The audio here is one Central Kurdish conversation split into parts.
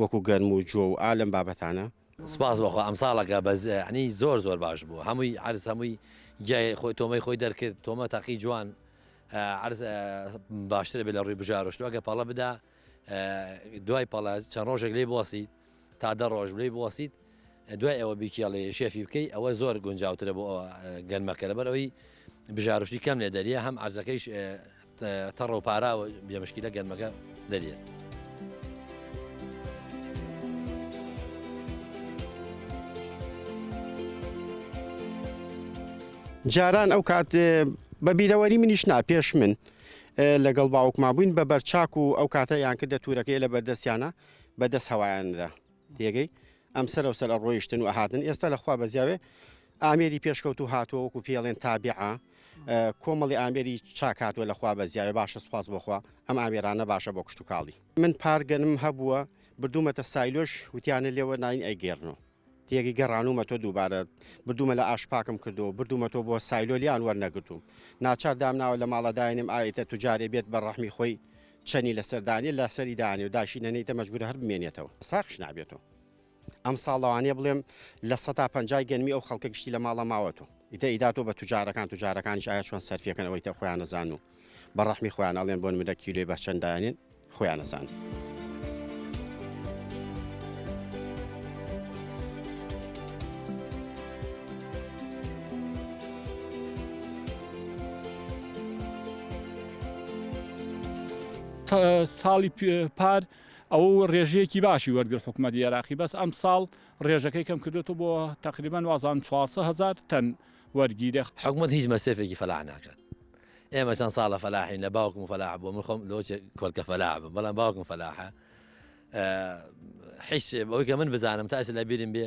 وەکو گەرم و جۆ و ئا لەم بابەتانە. سپاس بۆخوا ئەمساڵەکە بەس یەعنی زۆر زۆر باش بوو هەمووی عەرز هەمووی جیای خۆی تۆمەی خۆی دەرکرد تۆمە تاقی جوان عەرز باشترە بێ لە ڕووی بژارۆشت و ئەگە پەڵە بدا دوای پەڵە چەند ڕۆژێک لێی بوەسیت تا دە ڕۆژ لێی بوەسیت دوای ئەوە بیکێڵی شێفی بکەی ئەوە زۆر گونجاوترە بۆ گەنمەکە لەبەر ئەوی بژارشتی کەم لێ دەریە هەم عزەکەیش تەڕە و پاراوە بێمشکیلە گەنمەکە دەریێت. جاران ئەو کات بە بیرەوەری منیش نا پێش من لەگەڵ باوکما بووین بە بەرچاک و ئەو کاتە یان کردە تورەکەی لە بەردەستیانە بەدەست هەوایاندا تێگەی؟ ئەم سەرەو سەر ئەڕۆیشتن و ئەهاتن، ئێستا لە خوا بەزیاوێ ئامێری پێشکەوتوو هاتووە وەکوو پێڵێن تابیعە کۆمەڵی ئامێری چاک هاتووە لە خوا بەزیاوێ باشە سوپاس بۆ خوا ئەم ئامێرانە باشە بۆ کشتوکاڵی. من پارگەنم هەبووە بردوومەتە سایلۆش وتیانە لێوە ناین ئەیگێڕنۆ تێگەی؟ گەڕانوومەتۆ دووبارە بردوومە لە ئاش پاکم کردووە بردوومەتۆ بۆ سایلۆ لێیان وەرنەگرتووم ناچار دامناوە لە ماڵە داینێم ئایتە توجارێ بێت بە ڕەحمی خۆی چەنی لەسەر دانێ لە سەری دانێ و داشی نەنیتە مەجبورە هەر بمێنێتەوە ساخش نابێتەوە ئەم ساڵەوانێ بڵێم لە سەتا پنجای گەنمی ئەو خەڵکە گشتی لە ماڵە ماوەت و ئیدە ئیداتۆ بە توجارەکان توجارەکان شایە چۆن سەرفەکەن ئەوەی تە خۆیان نەزان و بە ڕەحمی خۆیان ئەڵێن بۆن منە کیلوی بە چەنددانێن خۆیان نەزان. ساڵی پار ئەو ڕێژەیەکی باشی وەرگر حکوومەت عێراقی بەس ئەم ساڵ ڕێژەکەی کەم کردێتەوە بۆ تقریبان وازان 400هزار تەن وەرگیرە حکوومەت هیچ مەسرفێکی فەلا ناکات ئێمە چەند ساڵە فەلاحین لە باوکم فەلا بۆ من خۆم لۆ کۆلکە فەلا بم بەڵام باوکم فەلاحە حیش بەوەی کە من بزانم تاس لە بیرم بێ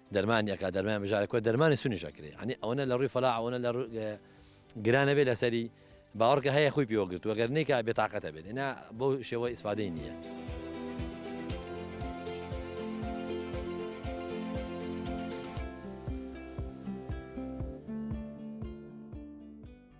دەرمانی ئەکا دەرمان بژارە کۆ دەرمانی سونیش ئەکرێ ئەنی ئەوەنە لە ڕووی فەلا ئەوەنە لە گرانە بێ لەسەری باوەڕکە هەیە خۆی پێوەگرت وەگەر نیکە بێتاقەتە بێت ئنا بۆ شێوە ئیسفادەی نییە.